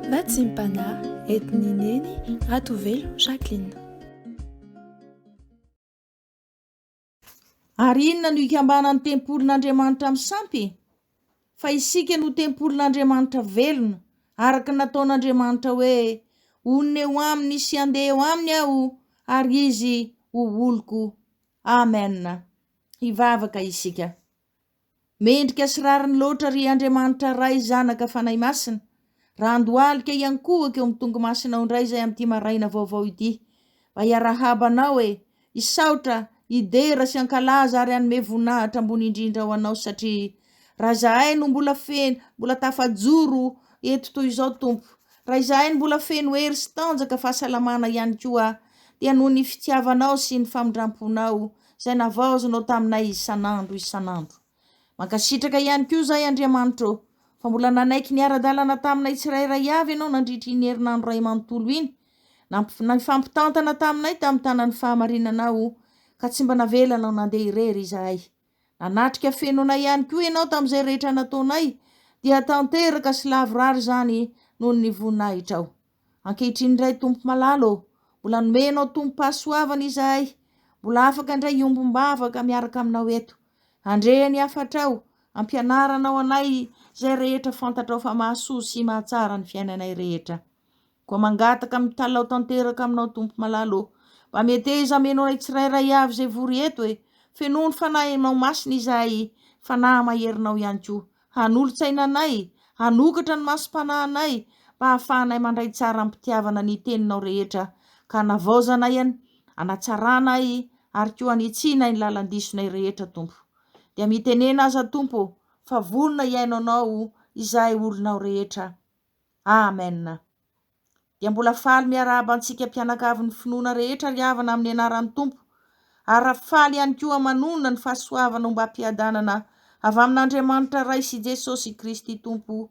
Natsimpana, entin'i Neny Ratovelo Jacqueline. Ary inona no ikambanan'ny tempolin'Andriamanitra amin'ny sampy? Fa isika no tempolin'Andriamanitra velona, araka ny nataon'Andriamanitra hoe, Honina eo aminy sy handeha eo aminy aho, ary izy ho oloko. Amen. Hivavaka isika. Mendrika sy rariny loatra ry Andriamanitra Ray, Zanaka, Fanahy Masina. Raha andohalika hiankohoka eo amin'ny tongomasinao indray izay amin'ity maraina vaovao ity, mba hiarahaba anao e, hisaotra, hidera sy hankalaza ary hanome voninahitra ambony indrindra ho anao satria raha izahay no mbola feno, mbola tafajoro eto toy izao Tompo, raha izahay no mbola feno hery sy tanjaka, fahasalamana ihany koa dia noho ny fitiavanao sy ny famindramponao Izay navaozinao taminay isan'andro isan'andro. Mankasitraka ihany koa izahay Andriamanitra ô, fa mbola nanaiky niara-dalana taminay tsirairay avy Ianao nandritra iny herinandro iray manontolo iny, nifampitantana taminay tamin'ny tanan'ny fahamarinanao, ka tsy mba navelanao nandeha irery izahay. Nanatrika feno anay ihany koa Ianao tamin'izay rehetra nataonay, dia tanteraka sy lavorary izany noho ny voninahitrao. Ankehitriny indray Tompo malala ô, mbola nomenao tombom-pahasoavana izahay, mbola afaka indray hiombom-bavaka miaraka aminao eto. Handre ny hafatrao, ampianaranao anay izay rehetra fantatrao fa mahasoa sy mahatsara ny fiainanay rehetra. Koa mangataka mitalaho tanteraka aminao Tompo malala ô, mba meteza ameno anay tsirairay avy izay vory eto e, fenoy ny Fanahinao Masina izahay, Fanahy maherinao ihany koa, Hanolo-tsaina anay, hanokatra ny masom-panahinay, mba hahafahanay mandray tsara amim-pitiavana ny Teninao rehetra, ka hanavaozanay an, hanatsarana ahy, ary koa hanitsianay ny lalan-disonay rehetra, Tompo. Dia mitenena aza, Tompo, fa vonona hihaino Anao izahay olonao rehetra. Amen. dia mbola faly miarahaba antsika mpianakavy ny finoana rehetra ry havana amin'ny anaran'ny Tompo, ary faly ihany koa manonona ny fahasoavana ombam-piadanana avy amin'Andriamanitra Ray sy Jesosy Kristy Tompo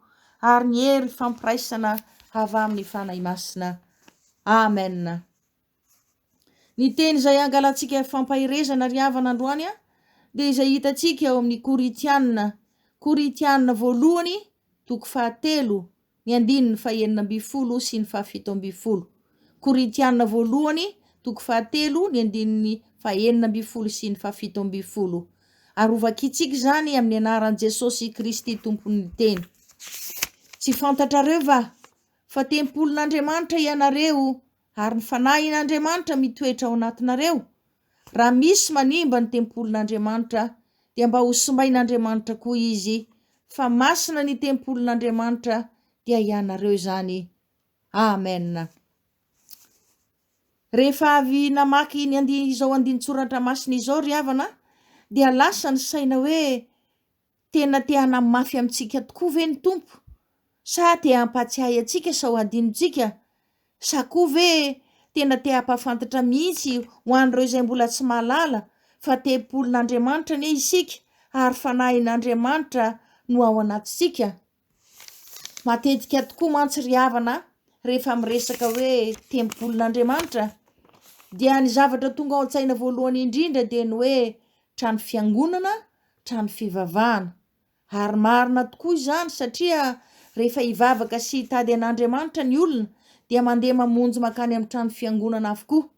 ary ny hery fampiraisana avy amin'ny Fanahy Masina. Amen. Ny teny izay hangalantsika fampaherezana ry havana androany dia izay hitantsika ao amin'ny Korintiana, Korintiana voalohany, toko fahatelo, ny andininy fahenina ambin'ny folo sy ny fahafito ambin'ny folo. Korintiana voalohany, toko fahatelo, ny andininy fahenina ambin'ny folo sy ny fahafito ambin'ny folo. Ary hovakintsika izany amin'ny anaran'i Jesosy Kristy tompon'ny teny. Tsy fantatrareo va fa tempolin'Andriamanitra ianareo Ary ny Fanahin'Andriamanitra mitoetra ao anatinareo, raha misy manimba ny tempolin'Andriamanitra, dia mba hosimbain'Andriamanitra koa izy, fa masina ny tempolin'Andriamanitra, dia ianareo izany. Amen. Rehefa avy namaky ny andi- izao andinin-tsoratra masina izao ry havana, dia lasa ny saina hoe Tena te hanamafy amintsika tokoa ve ny Tompo? Sa te hampatsiahy antsika sao hadinontsika? Sa koa ve tena te hampahafantatra mihitsy ho an'ireo izay mbola tsy mahalala fa tempolin'Andriamanitra anie isika ary fanahin'Andriamanitra no ao anatintsika? Matetika tokoa mantsy ry havana rehefa miresaka hoe tempolin'Andriamanitra dia ny zavatra tonga ao an-tsaina voalohany indrindra dia ny hoe trano fiangonana, trano fivavahana. Ary marina tokoa izany satria rehefa hivavaka sy hitady an'Andriamanitra ny olona dia mandeha mamonjy mankany amin'ny trano fiangonana avokoa.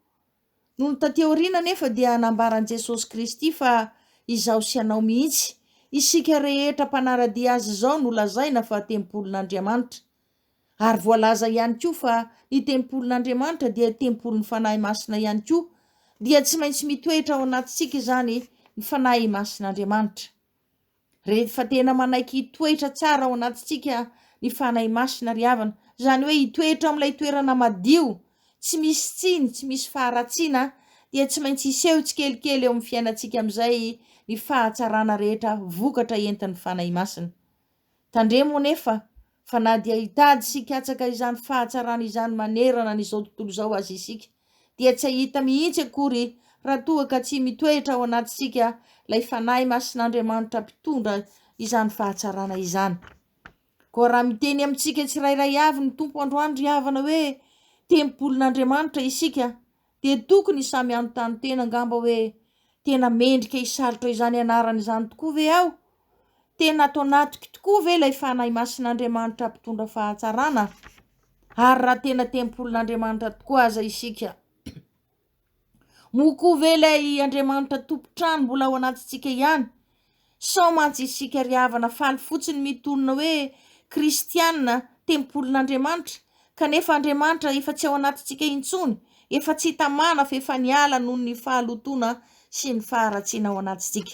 Nony taty aoriana anefa dia nambaran'i Jesosy Kristy fa izaho sy ianao mihitsy, isika rehetra mpanara-dia Azy izao no lazaina fa tempolin'Andriamanitra. Ary voalaza ihany koa fa ny tempolin'Andriamanitra dia tempolin'ny Fanahy Masina ihany koa, dia tsy maintsy mitoetra ao anatintsika izany ny Fanahy Masin'Andriamanitra. Rehefa tena manaiky hitoetra tsara ao anatintsika ny Fanahy Masina ry havana, izany hoe hitoetra ao amin'ilay toerana madio, tsy misy tsiny, tsy misy faharatsiana, dia tsy maintsy hiseho tsikelikely eo amin'ny fiainantsika amin'izay ny fahatsarana rehetra vokatra entin'ny Fanahy Masina. Tandremo anefa Fa na dia hitady sy hikatsaka izany fahatsarana izany manerana an'izao tontolo izao aza isika, dia tsy hahita mihitsy akory raha toa ka tsy mitoetra ao anatintsika ilay Fanahy Masin'Andriamanitra Mpitondra izany fahatsarana izany. Koa raha miteny amintsika tsirairay avy ny Tompo androany ry havana hoe, Tempolin'Andriamanitra isika, dia tokony samy hanontany tena angamba hoe tena mendrika hisalotra izany anarana izany tokoa ve aho? Tena ato anatiko tokoa ve ilay Fanahy Masin'Andriamanitra mpitondra fahatsarana? Ary raha tena tempolin'Andriamanitra tokoa aza isika, moa koa ve ilay Andriamanitra tompon-trano mbola ao anatintsika ihany? Sao mantsy isika ry havana faly fotsiny mitonona hoe kristiana, tempolin'Andriamanitra, kanefa Andriamanitra efa tsy ao anatintsika intsony, efa tsy tamana fa efa niala noho ny fahalotoana sy ny faharatsiana ao anatintsika.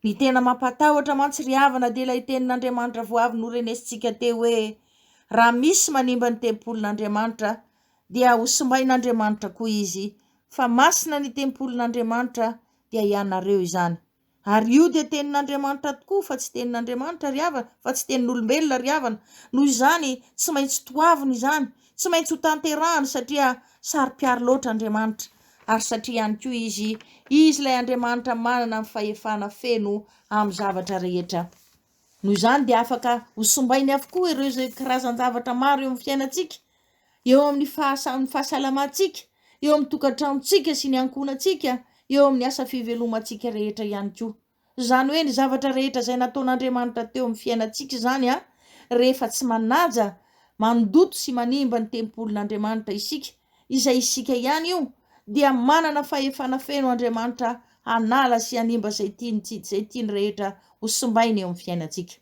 Ny tena mampatahotra mantsy ry havana dia ilay tenin'Andriamanitra vao avy norenesintsika teo hoe raha misy manimba ny tempolin'Andriamanitra dia hosimbain'Andriamanitra koa izy fa masina ny tempolin'Andriamanitra dia ianareo izany. Ary io dia tenin'Andriamanitra tokoa fa tsy tenin'Andriamanitra ry havana, fa tsy tenin'olombelona ry havana. Noho izany, tsy maintsy toaviny izany, tsy maintsy ho tanterahany satria saro-piaro loatra Andriamanitra, ary satria ihany koa izy, izy ilay Andriamanitra manana ny fahefana feno amin'ny zavatra rehetra. Noho izany dia afaka ho simbainy avokoa ireo izay karazan-javatra maro eo amin'ny fiainantsika. eo amin'ny fahasahin'ny fahasalamantsika, eo amin'ny tokantranontsika sy ny ankohonantsika, eo amin'ny asa fivelomantsika rehetra ihany koa. Izany hoe ny zavatra rehetra izay nataon'Andriamanitra teo amin'ny fiainantsika izany an, rehefa tsy manaja, mandoto sy manimba ny tempolin'Andriamanitra isika, izay isika ihany io, dia manana fahefana feno Andriamanitra hanala sy hanimba izay tiany sy izay tiany rehetra ho simbaina eo amin'ny fiainantsika.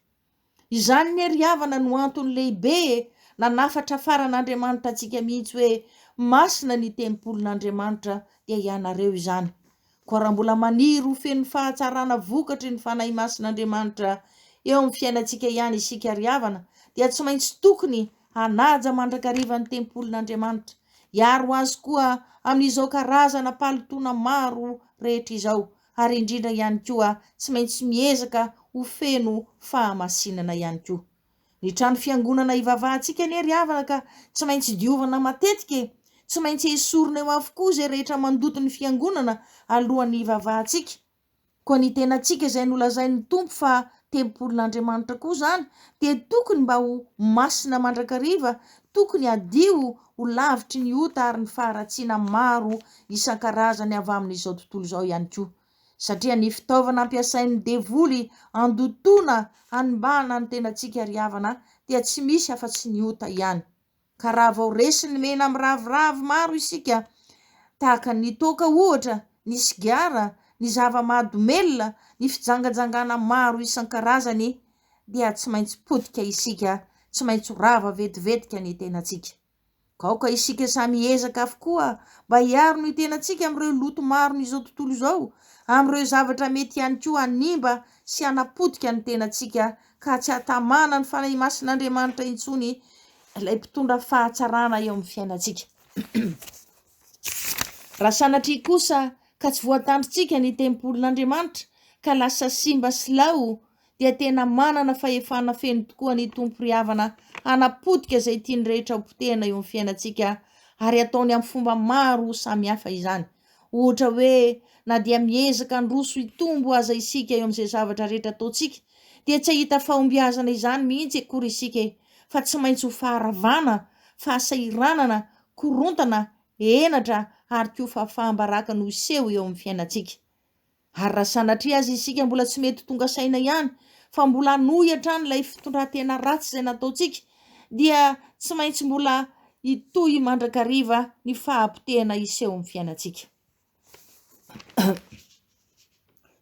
Izany anie ry havana no antony lehibe nanafatrafaran'Andriamanitra antsika mihitsy hoe masina ny tempolin'Andriamanitra dia ianareo izany. Koa raha mbola maniry ho feno fahatsarana vokatry ny Fanahy Masin'Andriamanitra eo amin'ny fiainantsika ihany isika ry havana dia tsy maintsy tokony hanaja mandrakariva ny tempolin'Andriamanitra. Hiaro azy koa amin'izao karazana palitona maro rehetra izao. ary indrindra ihany koa tsy maintsy miezaka ho feno fahamasinana ihany koa. Ny trano fiangonana ivavahantsika anie ry havana ka tsy maintsy diovina matetika e! Tsy maintsy esorina eo avokoa izay rehetra mandoto ny fiangonana alohan'ny hivavahantsika. Koa ny tenantsika izay nolazain'ny Tompo fa tempolin'Andriamanitra koa izany dia tokony mba ho masina mandrakariva, tokony hadio Ho lavitry ny ota ary ny faharatsiana maro isan-karazany avy amin'izao tontolo izao ihany koa, satria ny fitaovana ampiasain'ny devoly handotoana hanimbana ny tenantsika ry havana dia tsy misy afa-tsy ny ota ihany. Ka raha vao resin'ny mena miraviravy maro isika, tahaka ny toaka ohatra, ny sigara, ny zava-mahadomelina, ny fijangajangana maro isan-karazany, dia tsy maintsy potika isika, tsy maintsy ho rava vetivetika ny tenantsika. Aoka isika samy hiezaka avokoa mba hiaro ny tenantsika amin'ireo loto maron'izao tontolo izao, amin'ireo zavatra mety ihany koa hanimba sy hanapotika ny tenantsika ka tsy hahatamana ny Fanahy Masin'Andriamanitra intsony, ilay mpitondra fahatsarana eo amin'ny fiainantsika. Raha sanatria kosa ka tsy voatandrintsika ny tempolin'Andriamanitra ka lasa simba sy lao dia tena manana fahefana feno tokoa ny Tompo ry havana hanapotika izay tiany rehetra ho potehina eo amin'ny fiainantsika ary ataony amin'ny fomba maro samihafa izany. Ohatra hoe na dia miezaka handroso hitombo aza isika eo amin'izay zavatra rehetra ataontsika dia tsy hahita fahombiazana izany mihitsy akory isika e, fa tsy maintsy ho faharavana, fahasahiranana, korontana, henatra ary koa fahafaham-baraka no hiseho eo amin'ny fiainantsika. Ary raha sanatria aza isika mbola tsy mety tonga saina ihany, fa mbola hanohy hatrany ilay fitondran-tena ratsy izay nataontsika, dia tsy maintsy mbola hitohy mandrakariva ny fahapotehana hiseho amin'ny fiainantsika.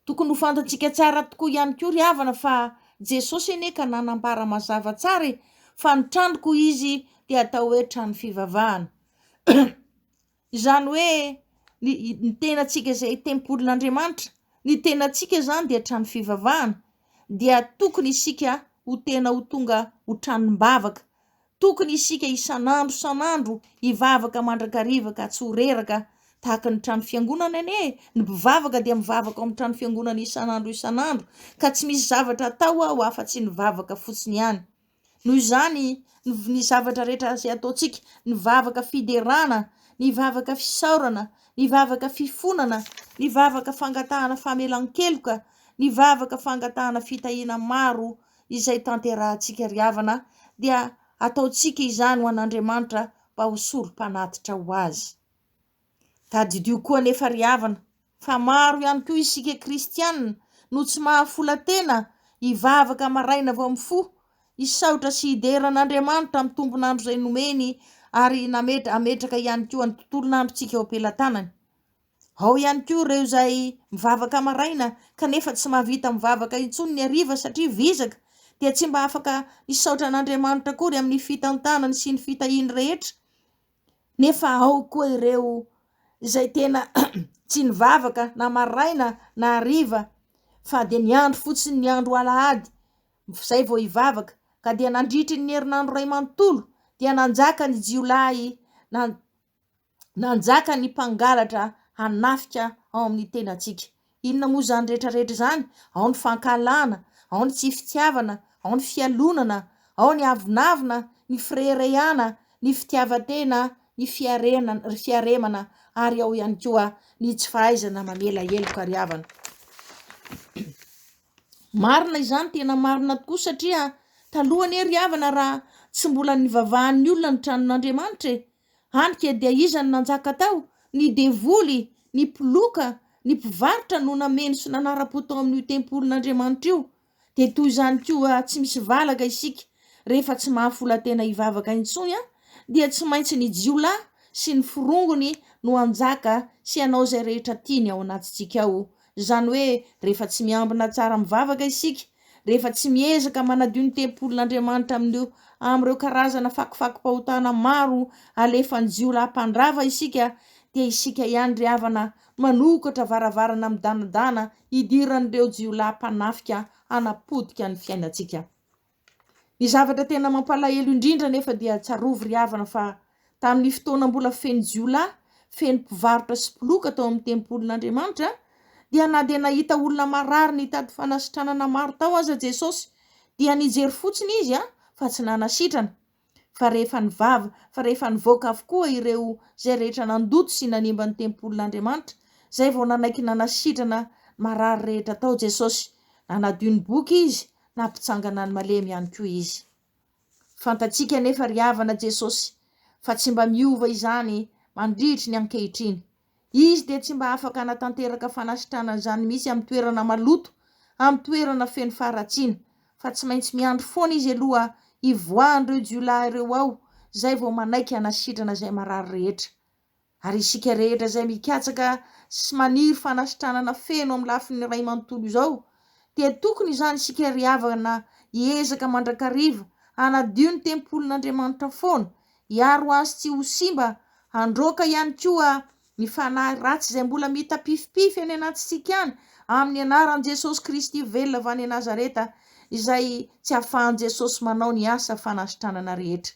Tokony ho fantatsika tsara tokoa ihany koa ry havana fa Jesosy anie ka nanambara mazava tsara e, fa ny tranoko izy dia atao hoe trano fivavahana. Izany hoe ny ny tenantsika izay tempolin'Andriamanitra, ny tenantsika izany dia trano fivavahana dia tokony isika ho tena ho tonga ho tranom-bavaka, tokony isika isan'andro isan'andro hivavaka mandrakariva ka tsy ho reraka tahaka ny trano fiangonana anie e! ny mpivavaka dia mivavaka ao amin'ny trano fiangonana isan'andro isan'andro ka tsy misy zavatra atao ao afa-tsy ny vavaka fotsiny ihany. Noho izany, ny zavatra rehetra izay ataontsika, ny vavaka fiderana, ny vavaka fisaorana, ny vavaka fifonana, ny vavaka fangatahana famelan-keloka, ny vavaka fangatahana fitahiana maro izay tanterahantsika ry havana dia ataontsika izany ho an'Andriamanitra mba ho Sorompanatitra ho azy. Tadidio koa anefa ry havana fa maro ihany koa isika kristiana no tsy mahafola tena hivavaka maraina vao mifoha, hisaotra sy hidera an'Andriamanitra amin'ny tompon'andro izay nomeny ary hametraka ihany koa ny tontolon'androntsika eo am-pelatanany. Ao ihany koa ireo izay mivavaka maraina kanefa tsy mahavita mivavaka intsony ny hariva satria vizaka dia tsy mba afaka hisaotra an'Andriamanitra akory amin'ny fitantanany sy ny fitahiany rehetra. Nefa ao koa ireo izay tena tsy nivavaka na maraina na hariva fa dia niandry fotsiny ny andro alahady izay vao hivavaka ka dia nandritry ny herinandro iray manontolo dia nanjaka ny jiolahy na nanjaka ny mpangalatra hanafika ao amin'ny tenantsika. Inona moa izany rehetra rehetra izany? Ao ny fankahalana, ao ny tsy fitiavana, ao ny fialonana, ao ny avonavona, ny fireharehana, ny fitiavan-tena, ny fiarena, ry fiaremana, ary ao ihany koa ny tsy fahaizana mamela heloka ry havana. Marina izany, tena marina tokoa satria taloha anie ry havana raha tsy mbola nivavahan'ny olona ny tranon'Andriamanitra e, Hany ke dia iza no nanjaka tao? Ny devoly, ny mpiloka, ny mpivarotra no nameno sy nanara-po tao amin'io tempolin'Andriamanitra io. Dia toy izany koa tsy misy valaka isika rehefa tsy mahafola-tena hivavaka intsony an! Dia tsy maintsy ny jiolahy sy ny forongony no hanjaka sy hanao izay rehetra tiany ao anatintsika ao Izany hoe rehefa tsy miambina tsara mivavaka isika, rehefa tsy miezaka manadio ny tempolin'Andriamanitra amin'io amin'ireo karazana fakofako-pahotana maro alefan'ny jiolahy mpandrava isika dia isika ihany ry havana manokatra varavarana midanadana hidiran'ireo jiolahy mpanafika hanapotika ny fiainantsika. Ny zavatra tena mampalahelo indrindra anefa dia tsarovy ry havana fa tamin'ny fotoana mbola feno jiolahy, feno mpivarotra sy mpiloka tao amin'ny tempolin'Andriamanitra dia na dia nahita olona marary nitady fanasitranana maro tao aza Jesosy dia nijery fotsiny izy fa tsy nanasitrana. fa rehefa nivava, fa rehefa nivoaka avokoa ireo izay rehetra nandoto sy nanimba ny tempolin'Andriamanitra, izay vao nanaiky nanasitrana ny marary rehetra tao Jesosy. Nanadio ny boky Izy, nampitsangana ny malemy ihany koa Izy. Fantatsika anefa ry havana Jesosy fa tsy mba miova izany mandritry ny ankehitriny. Izy dia tsy mba afaka hanatanteraka fanasitranana izany mihitsy amin'ny toerana maloto, amin'ny toerana feno faharatsiana, fa tsy maintsy miandry foana izy aloha hivoahan'ireo jiolahy ireo ao, izay vao manaiky hanasitrana izay marary rehetra. Ary isika rehetra izay mikatsaka sy maniry fanasitranana feno amin'ny lafiny iray manontolo izao, dia tokony izany isika ry havana hiezaka mandrakariva hanadio ny tempolin'Andriamanitra foana, hiaro azy tsy ho simba, handroaka ihany koa ny fanahy ratsy izay mbola mitapifimpify any anatintsika any, amin'ny anaran'i Jesosy Kristy velona avy any Nazareta, izay tsy ahafahan'i Jesosy manao ny asa fanasitranana rehetra.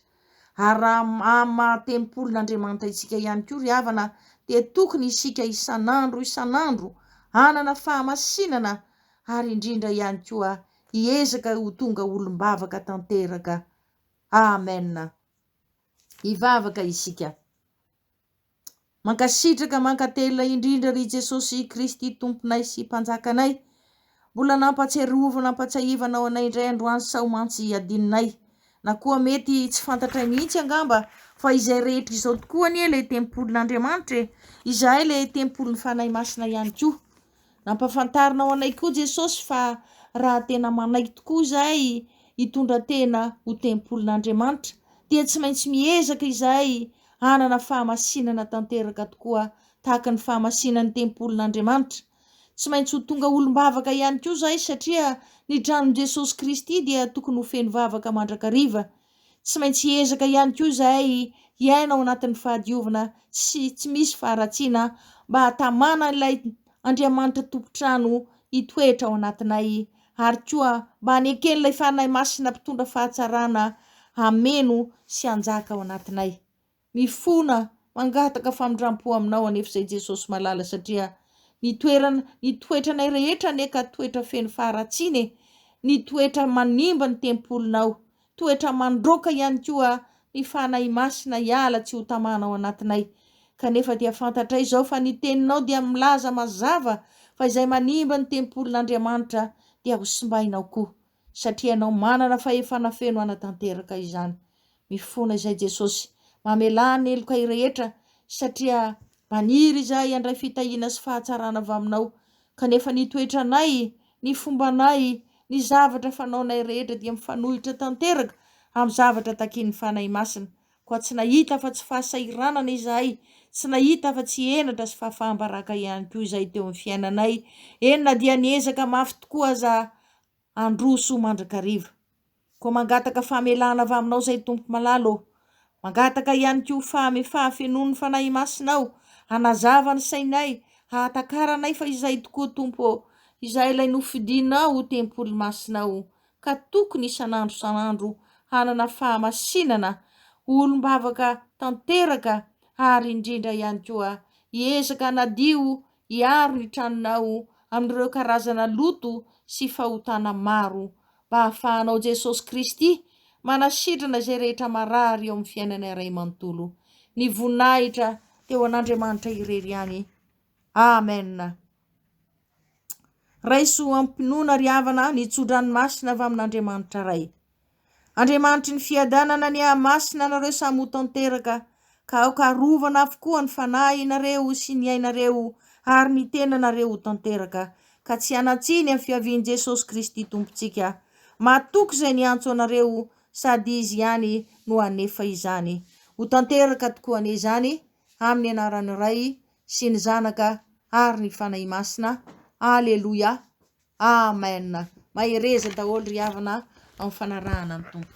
Ary raha amin'ny maha tempolin'Andriamanitra isika ihany koa ry havana, dia tokony isika isan'andro isan'andro hanana fahamasinana ary indrindra ihany koa hiezaka ho tonga olom-bavaka tanteraka Amen! Hivavaka isika. Mankasitraka mankatelina indrindra ry Jesosy Kristy Tomponay sy Mpanjakanay mbola nampatsiarovana ampatsiahivanao anay indray androany sao mantsy hadinonay na koa mety tsy fantatray mihitsy angamba fa izay rehetra izao tokoa anie ilay tempolin'Andriamanitra e izahay ilay tempolin'ny Fanahy Masina ihany koa Nampahafantarina ho anay koa Jesosy fa raha tena manaiky tokoa izay hitondra tena ho tempolin'Andriamanitra dia tsy maintsy miezaka izay hanana fahamasinana tanteraka tokoa tahaka ny fahamasinan'ny tempolin'Andriamanitra. Tsy maintsy ho tonga olom-bavaka ihany koa izay satria ny tranon'i Jesosy Kristy dia tokony ho feno vavaka mandrakariva Tsy maintsy hiezaka ihany koa izahay hiaina ao anatin'ny fahadiovana sy tsy misy faharatsiana mba hahatamana ilay Andriamanitra Tompon-trano hitoetra ao anatinay ary koa mba haneken'ilay Fanahy Masina Mpitondra fahatsarana hameno sy hanjaka ao anatinay. Mifona mangataka famindrampo aminao anefa izay Jesosy malala satria ny toerana ny toetranay rehetra anie ka toetra feno faharatsiana e! ny toetra manimba ny tempolinao, toetra mandroaka ihany koa ny Fanahy Masina hiala tsy ho tamana ao anatinay kanefa dia fantatray izao fa ny teninao dia milaza mazava fa izay manimba ny tempolin'Andriamanitra dia ho simbainao koa satria ianao manana fahefana feno hanatanteraka izany Mifona izay Jesosy. Mamelà ny helokay rehetra, satria maniry izahay handray fitahiana sy fahatsarana avy Aminao. Kanefa ny toetranay, ny fombanay, ny zavatra fanaonay rehetra dia mifanohitra tanteraka amin'ny zavatra takian'ny Fanahy Masina. Koa tsy nahita afa-tsy fahasahiranana izahay, tsy nahita afa-tsy henatra sy fahafaham-baraka ihany koa izahay teo amin'ny fiainanay, eny na dia niezaka mafy tokoa aza handroso mandrakariva. Koa mangataka famelana avy Aminao izay Tompoko Malala ô. Mangataka ihany koa fahamefaha fenoin'ny Fanahy Masina aho, hanazava ny sainay, hahatakarana ahy fa izay tokoa Tompo ô, izahay ilay nofidinao ho tempoly masinao, ka tokony isan'andro isan'andro hanana fahamasinana, ho olom-bavaka tanteraka ary indrindra ihany koa hiezaka hanadio Hiaro ny tranonao amin'ireo karazana loto sy fahotana maro, mba hahafahanao Jesosy Kristy manasitrana izay rehetra marary eo amin'ny fiainana iray manontolo. Ny voninahitra dia ho an'Andriamanitra irery ihany. Amen. Raiso amim-pinoana ry havana ny tso-dranomasina avy amin'Andriamanitra Ray. Andriamanitry ny fiadanana ny hahamasina anareo samy ho tanteraka, ka aoka harovana avokoa ny fanahinareo sy ny ainareo ary ny tenanareo ho tanteraka, ka tsy hanan-tsiny amin'ny fiavian'i Jesosy Kristy Tompontsika. Mahatoky izay niantso anareo, sady Izy ihany no hanefa izany. Ho tanteraka tokoa anie izany, amin'ny anaran'ny Ray sy ny Zanaka ary ny Fanahy Masina. Aleloia. Amen! Mahereza daholo ry havana a, amin'ny fanarahana ny Tompo.